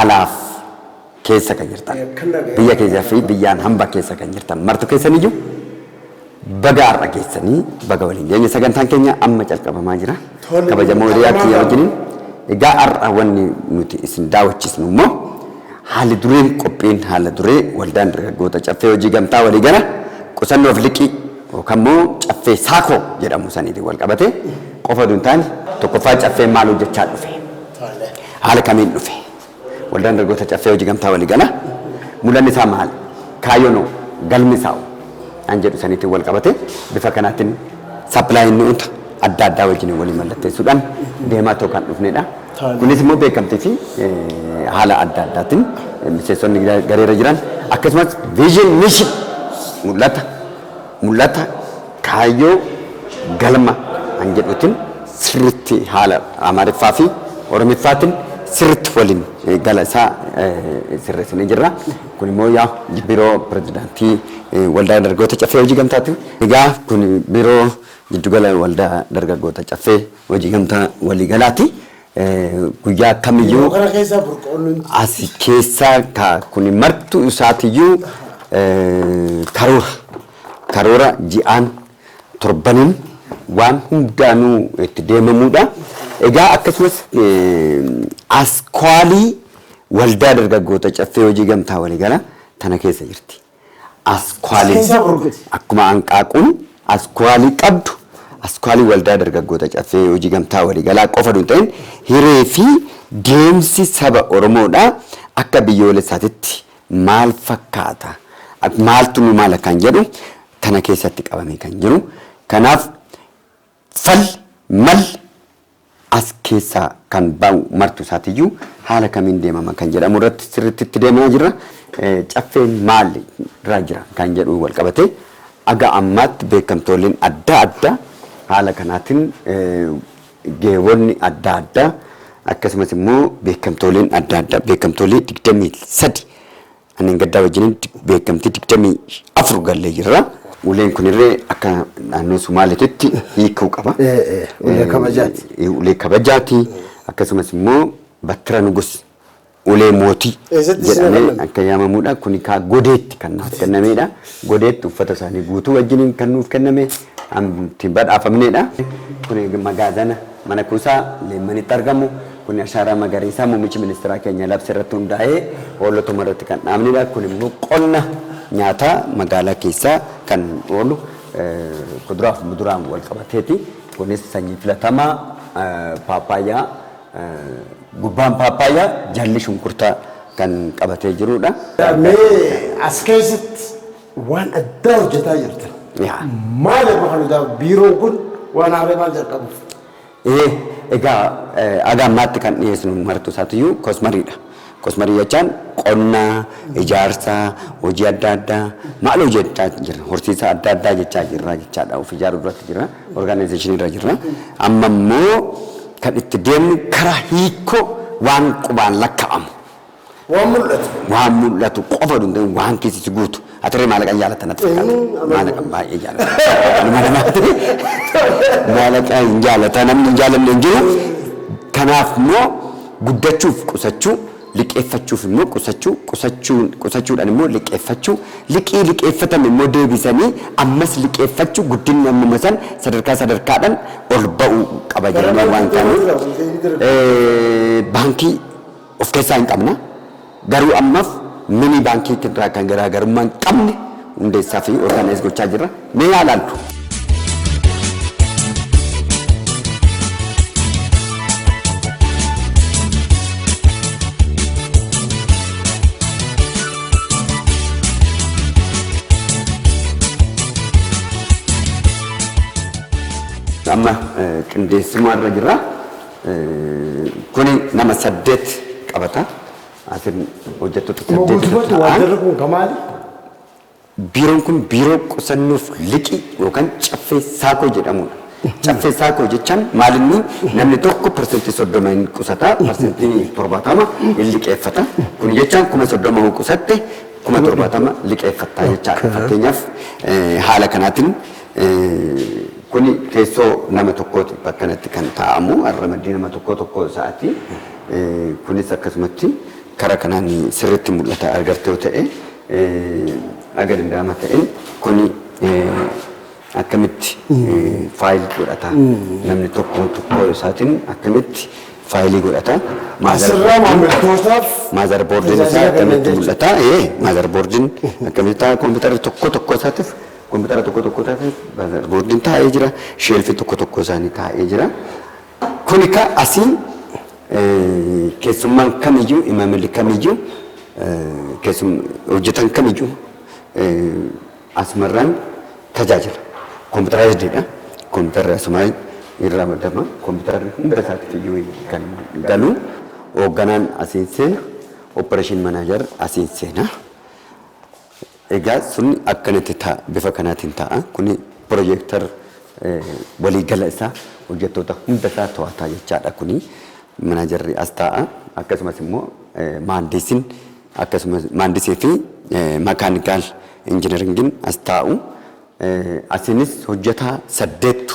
alaaf keessa kan jirtan biyya keessa fi biyyaan hamba keessa kan jirtan martu keessan iyyuu baga har'a geessanii baga waliin geenye sagantaan keenya amma calqabamaa jira Tole, kabajamoo hiriyaa kiyya qabamaa wajjiniin egaa har'a wanni nuti isin daawwachiisnu immoo haalli dureen qophiin haala duree waldaan dargaggoota caffee hojii gamtaa walii gala qusannoof liqii yookaan immoo caffee saakoo jedhamu saniitiin wal qabate qofa duun taane tokkoffaa caffeen maal hojjechaa dhufe Tole. Haala kamiin dhufe? Waldaan Dargaggoota Caffee Hojii Gamtaa Waliigalaa mul'anni isaa maali? Kaayyoon hoo? Galmi isaa hoo? An jedhu saniitiin wal qabatee bifa kanaatiin sappilaayii mi'oota adda addaa wajjin walii mallatteessuudhaan deemaa ta'u kan dhufnedha. Taalee. Kunis immoo beekamtii fi eh, haala adda addaatiin eh, miseensonni gareerra jiran akkasumas viizhin mishin mul'ata Mul'ata, kaayyoo, galma kan jedhuutin sirriitti haala Amaariffaa fi Oromiffaatin sirriitti waliin gala isaa sirreessinee jirra. Kun immoo yaa Biiroo Pirezidaantii Waldaa Dargaggoota Caffee Hojii Gamtaati. Egaa kun Biiroo Jiddugala Waldaa Dargaggoota Caffee Hojii Gamtaa Waliigalaati. Guyyaa akkamiyyuu. Yeroo kana keessaa burqoon nun jiru. Asi keessaa ka kuni martuu isaatiyyuu karoora. Karoora ji'aan torbaniin waan hundaanuu itti deemamuudha. Egaa akkasumas askwaalii waldaa dargaggoota caffee hojii gamtaa waliigala tana keessa jirti. Askwaalii Seensa Burguti. akkuma hanqaaquun askwaalii qabdu askwaalii waldaa dargaggoota caffee hojii gamtaa waliigalaa qofa utuu hin ta'in hiree fi deemsi saba Oromoodhaa akka biyyoolessaatitti maal fakkaata maaltu nu maala kan jedhu kana keessatti qabamee kan jiru kanaaf Fal, mal, as keessaa kan ba'u martu isaatiyyuu haala kamiin deemama kan jedhamu irratti sirriitti itti deemaa jirra. Caffeen maal irraa jira kan jedhu wal qabatee aga ammaatti beekamtooleen adda addaa haala kanaatiin geewonni adda addaa akkasumas immoo beekamtooleen adda addaa beekamtoolee 23 Manneen gaddaa wajjiniin beekamtii 24 gallee jirra. Uleen kunillee akka naannoo Sumaaleetitti hiikuu qaba. Ulee kabajaati. Ulee kabajaati. Akkasumas immoo battira nugus ulee mootii jedhamee akka yaamamudha. Kuni kaa godeetti kan nuuf kennameedha. Godeetti uffata isaanii guutuu wajjiniin kan nuuf kenname. itti badhaafamneedha. Kun magaazana mana kuusaa Leemmanitti argamu. Kun ashaaraa magariisaa muummichi ministeeraa keenya labse irratti hundaa'ee hoolotuma irratti kan dhaabneedha. Kun immoo qonna nyaataa magaalaa keessaa kan oolu kuduraa fi muduraan wal qabateeti. Kunis sanyii filatamaa paappaayyaa gubbaan paappaayyaa jalli shunkurtaa kan qabatee jiruudha. Mee as keessatti Waan addaa hojjetaa jirta. Yaa. Maal irra kan hojjetaa biiroon kun waan haaree maal jalqabuuf? Ee, egaa eh, haga ammaatti kan dhiyeessinu martuu isaatiyyuu kosmariidha. Kosmarii jechaan qonna, ijaarsa, hojii adda addaa maal hojjechaa jirra? Horsiisa adda addaa jechaa jirra jechaadha. Of ijaaruu irratti jirra. Orgaanayizeeshinii irra jirra. Amma immoo kan itti deemnu karaa hiikoo waan qubaan lakka'amu. Waan mul'atu. Waan mul'atu qofa oduu hin ta'in waan keessi si guutu. Atirree maalaqa hin jaalatta natti fakkaata. Eenyuun amanu? Maalaqa baay'ee jaalatta. Nama namaati. Maalaqa hin jaalatta namni hin jaalanne hin jiru. Kanaaf immoo guddachuuf qusachuu liqeeffachuuf immoo qusachuu qusachuun qusachuudhaan immoo liqeeffachuu liqii liqeeffatame immoo deebisanii ammas liqeeffachuu guddinni ammuma san sadarkaa sadarkaadhaan ol ba'uu qaba Bara jennee waan meeqa ta'aniif. jira? Baankii of keessaa hin qabna. Garuu ammaf mini baankii irraa kan garaagarummaa hin qabne hundeessaa fi orgaanaayis gochaa jirra. Mee yaa ilaaltu. Amma qindeessumaa irra jirra. Kuni nama saddeet qabata. Asiin hojjettoota Moo saddeetitu guutumatti ta'an. waajjirri kun ka maali? Biiroon kun biiroo qusannoof liqii yookaan caffee saakoo jedhamudha. Caffee saakoo jechaan maalinni namni tokko parsantii soddoma hin qusata, parsantii torbaatama hin liqeeffata. Kun jechaan kuma soddoma yoo qusatte kuma torbaatama liqeeffatta jechaadha. Fakkeenyaaf eh, haala kanaatiin Kuni teessoo nama tokkooti bakkanatti kan taa'amu ramaddii nama tokkoo tokkoo isaati. Kunis akkasumatti kara kanaan sirritti mul'ata argarte yoo ta'e aga danda'ama ta'een kuni akkamitti faayil godhata namni tokko tokkoo isaatiin akkamitti faayilii godhata Asirraa maamiltootaaf maazar boordiin isaa tajaajila kenna akkamitti jechuudha. mul'ata ee maazar boordiin akkamitti ta'a kompiitarri tokko tokko isaatiif Kompitara tokko tokko tafe boardin taa'ee jira. Sheelfi tokko tokko isaanii taa'ee jira. Kuni ka asiin keessummaan kamiyyuu imaamilli kamiyyuu hojjetan kamiyyuu asumarraan tajaajila. Kompitaraayizdiidha. Kompitarri asumaa irraa madama. Kompitarri hunda isaatti iyyuu kan galu hoogganaan asiin seena. Operation manager asiin seena. Egaa sun akkanatti ta'a. Bifa kanaatiin ta'a. Kuni projector walii gala isaa hojjettoota hunda isaa to'ata jechaadha kuni. Manaajarri as taa'a. Akkasumas immoo maandiisin akkasumas maandisii fi makaanikaal injineringiin as taa'u. Asiinis hojjetaa saddeettu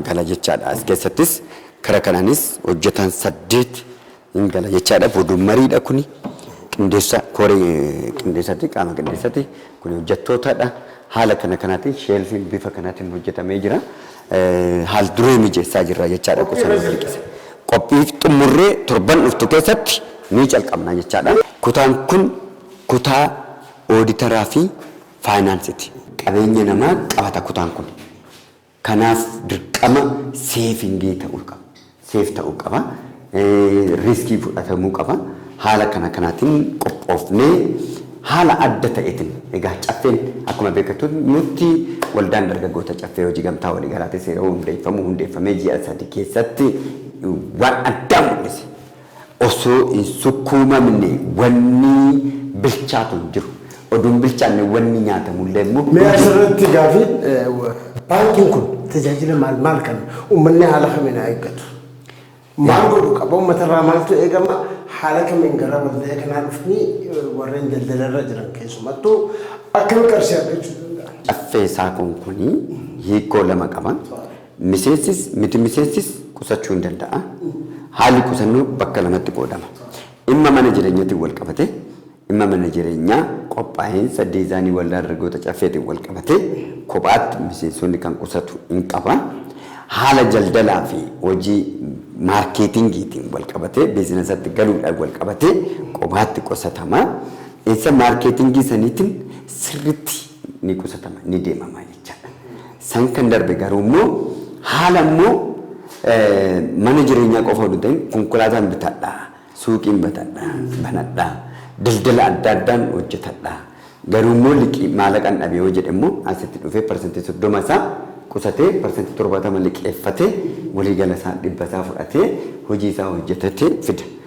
gala jechaadha. As keessattis kara kanaanis hojjetaan saddeet Hin gala jechaadha boodun mariidha kuni qindeessa koree qindeessati qaama qindeessati kuni hojjettootadha haala kana kanaatiin sheelfiin bifa kanaatiin hojjetamee jira haal duree mijeessaa jirra jechaadha qusannoo dirqisa qophii xumurree torban dhuftu keessatti ni calqabna jechaadha. Kutaan kun kutaa ooditaraa fi faayinaansiti. Qabeenya namaa qabata kutaan kun. Kanaaf dirqama seevingii ta'uu qaba. Seef ta'uu qaba. Riiskii fudhatamuu qaba. Haala kana kanaatiin qophoofnee haala adda ta'eetiin egaa caffeen akkuma beekatutti waldaan dargaggoota caffee hojii gamtaa waliigalaatiin seera hundeeffamuu hundeeffamee ji'a sadii keessatti waan addaa mul'ise. Osoo hin sukkuumamne wanni bilchaatu hin jiru. Oduu hin bilchaanne wanni nyaatamu illee immoo Mee hin jiru. asirratti gaafii baankiin kun tajaajila maal maal kenna? Uummanni haala kamiin haa eeggatu? Maal godhu qaba? Uummatarraa maaltu eegama? Haala kamiin gara waldaa kanaa dhufanii warreen daldalarra jiran keessumattuu akkamitti qarshii argachuu danda'an? Caffee saakoon kun hiikoo lama qaba. Miseensis miti miseensis qusachuu hin danda'a. Haalli qusannoo bakka lamatti qoodama. Dhimma mana jireenyatiin wal qabatee, dhimma mana jireenyaa qophaa'insa diizaanii Waldaa Dargaggoota Caffeetiin wal qabatee kophaatti miseensonni kan qusatu in qaba. Haala jaldalaa fi hojii maarkeetingiitiin wal qabatee biizinasatti galuudhaan wal qabatee qophaatti qusatama. Isa maarkeetingii saniitiin sirriitti ni qusatama, ni deemama jechaadha. San kan darbe garuu immoo haala immoo mana jireenyaa qofa oduu ta'in konkolaataan bitadha, suuqiin batadha, banadha, daldala adda addaan hojjetadha. Garuu immoo liqii maallaqaan dhabe yoo jedhe immoo asitti dhufee parsantii soddoma isaa qusatee parsantii torbaatama liqeeffatee waliigala isaa dhibba isaa fudhatee hojii isaa hojjetatee fida.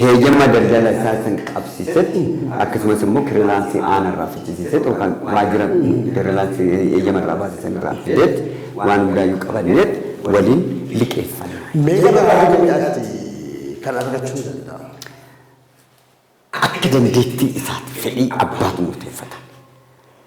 heeyama daldala isaa san qabsiisetti akkasumas immoo kirilaansii aana irraa fichisiisetti yookaan waajjira kirilaansii heeyama irraa baase san irraa fideetti waan hundaayyuu qabanneetti waliin liqeeffanna. Mee gama baay'inaatti kan argachuu ni danda'a. Akka dandeettii isaatti fedhii abbaatu murteeffata.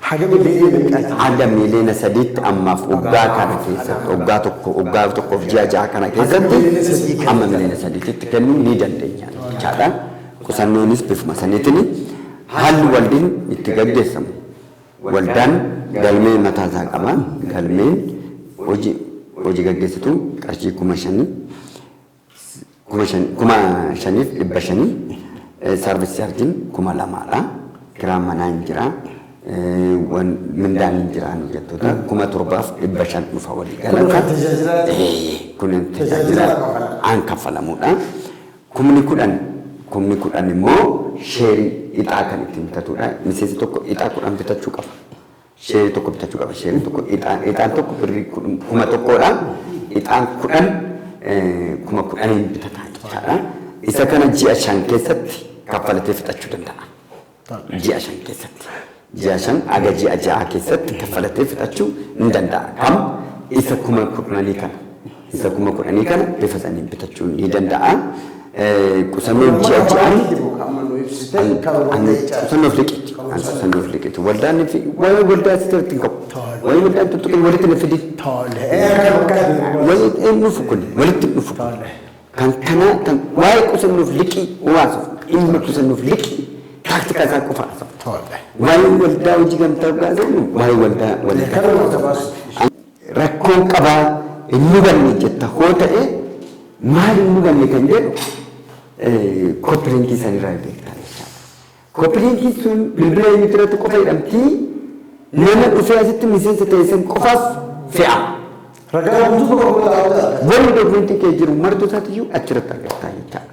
Haga miliyoona meeqaati? Haga miliyoona sadiitti ammaaf waggaa kana keessatti waggaa tokko waggaa tokkoof ji'a ja'a kana keessatti amma miliyoona sadiititti kennuu ni dandeenya jechaadha. Qusannoonis bifuma saniitiin haalli waldin itti gaggeessamu waldaan galmee mataa isaa qaba. Galmeen hoji hoji gaggeessituu qarshii kuma shanii kuma shan- kuma shaniif dhibba shanii eh, saarvis chaarjiin kuma lamaadha. Kiraan manaa hin jira. eh, wan- Mindaan hin jira nu jettoota kuma torbaaf dhibba shan dhufa walii Kun kan galata. tajaajilaa Eh, Kun tajaajila tajaajila kaffalamu. aan kaffalamudha. Kumni kudhan kumni kudhan immoo sheerii ixaa kan ittiin bitatudha. Miseensi tokko ixaa kudhan bitachuu qaba. Sheerii tokko bitachuu qaba. Sheeriin tokko ixaan ixaan tokko birrii kudhan- kuma tokkodha. Ixaan kudhan eh, kuma kudhaniin bitata jechaadha. Isa kana ji'a shan keessatti kaffalatee fixachuu danda'a. Ji'a shan keessatti. Ji'a shan aga ji'a ja'a keessatti kaffalatee fixachuu ni danda'a. Kam isa kuma kudhanii kana. Isa kuma kudhanii kana bifa saniin bitachuun ni danda'a. Qusannoon ji'a ji'aan qusannoof liqiti. An qusannoof liqiti. Waldaan fi waan waldaa si jalatti hin qabu. Waan waldaan tuttuqin walitti na fidi. Walitti hin dhufu kun walitti hin dhufu. Kan kanaa kan waa'ee qusannoof liqii waasuuf dhimma qusannoof liqii taaktikaa isaa qofa haasa'u. Waa'ee waldaa hojii gamtaa dhugaa jennu waa'ee waldaa waldaa. Rakkoon qabaa hin mudanne jetta hoo ta'e maal hin mudanne kan jedhu koppiliinkii san irraa beektaa jechaadha. Koppiliinkiin sun bilbila eenyuutti irratti qofa hidhamtii nama dhufee asitti miseensa ta'e san qofaaf fe'a. Ragaa guutuu qofa irraa argata. Wanni dokumentii kee jiru martuu isaatiyyuu achirratti argattaa jechaadha.